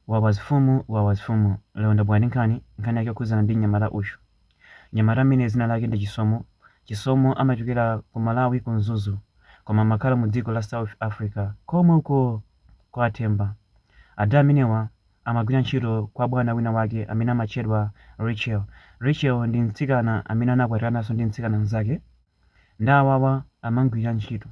Wawa azifumu wawa azifumu lero ndabwera ndi nkhani, nkhani yake yokhudzana ndi mnyamata uyu. Mnyamata ameneyi dzina lake ndi Chisomo, Chisomo amachokera ku Malawi ku Mzuzu koma amakhala mu dziko la South Africa komwe uko kwa a Themba. Ada amenewa amagwira ntchito kwa bwana wina wake amene amatchedwa Rachel. Rachel ndi mtsikana amene anakwatirananso ndi mtsikana mzake. Nde awawa amamugwira ntchito.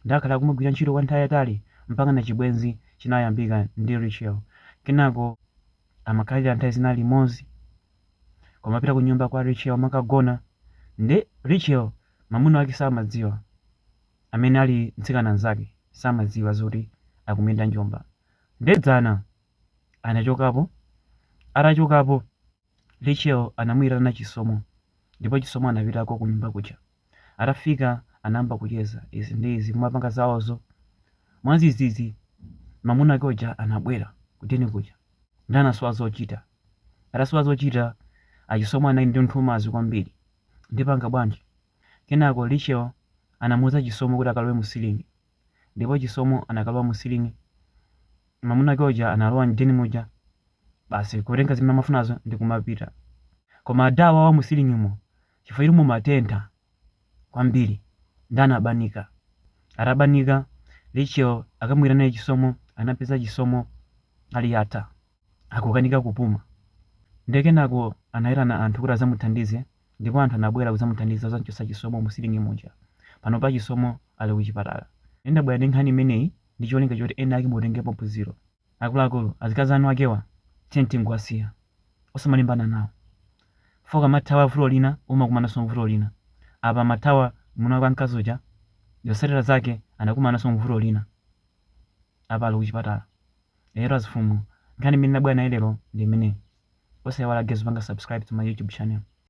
Nde akhala akumagwira ntchito kwa nthawi yayitali mpakana chibwenzi chinayambika ndi Rachel. Kenako amakhalira nthawi zina limodzi. Kumapita ku nyumba kwa Rachel kumakagona. Nde Rachel mamuna wake samadziwa. Amene ali mtsikana nzake samadziwa zoti akumuyenda njomba. Nde dzana anachokapo, atachokapo. Rachel anamuitana Chisomo ndipo Chisomo anapitako kunyumba kuja. Atafika anayamba kucheza izi ndi izi kumapanga zaozo. Mwadzidzidzi mamuna wake uja anabwera ku den kuja nde anasowa zochita. Atasowa zochita a Chisomo anali ndi nthumazi kwambiri. Ndipanga bwanji? Kenako Rachel anamuuza Chisomo kuti akalowe mu siling'i. ndipo chisomo anakalowa mu ceiling mamuna wake uja analowa mden muja basi kutenga zimene amafunazo ndi kumapita koma ada awawa mu ceilingmo chifukwa choti mumatentha kwambiri nde anabanika atabanika Rachel akamuyitana chisomo anapeza chisomo ali yata akukanika kupuma. Ndiye kenako anaitana anthu kuti adzamuthandize ndipo anthu anabwera kudzamuthandiza kudzam'chotsa Chisomo mu siling'i muja. Panopa Chisomo ali kuchipatala. Ine ndabwera ndi nkhani imeneyi ndi cholinga choti ena ake mutengepo phunziro. Akuluakulu, azikazi a enakewa tiyeni tingowasiya. Osamalimbana nawo. Chifukwa ukamathawa vuto lina umakumananso n'vuto lina. Apa amathawa mwamuna wake wamkazi uja, zotsatira zake anakumananso n'vuto lina. Apa ali kuchipatala. Lero azifumu nkhani imene ndabwera nayo lero ndi imeneyi. Osaiwala guys kupanga subscribe to my YouTube channel.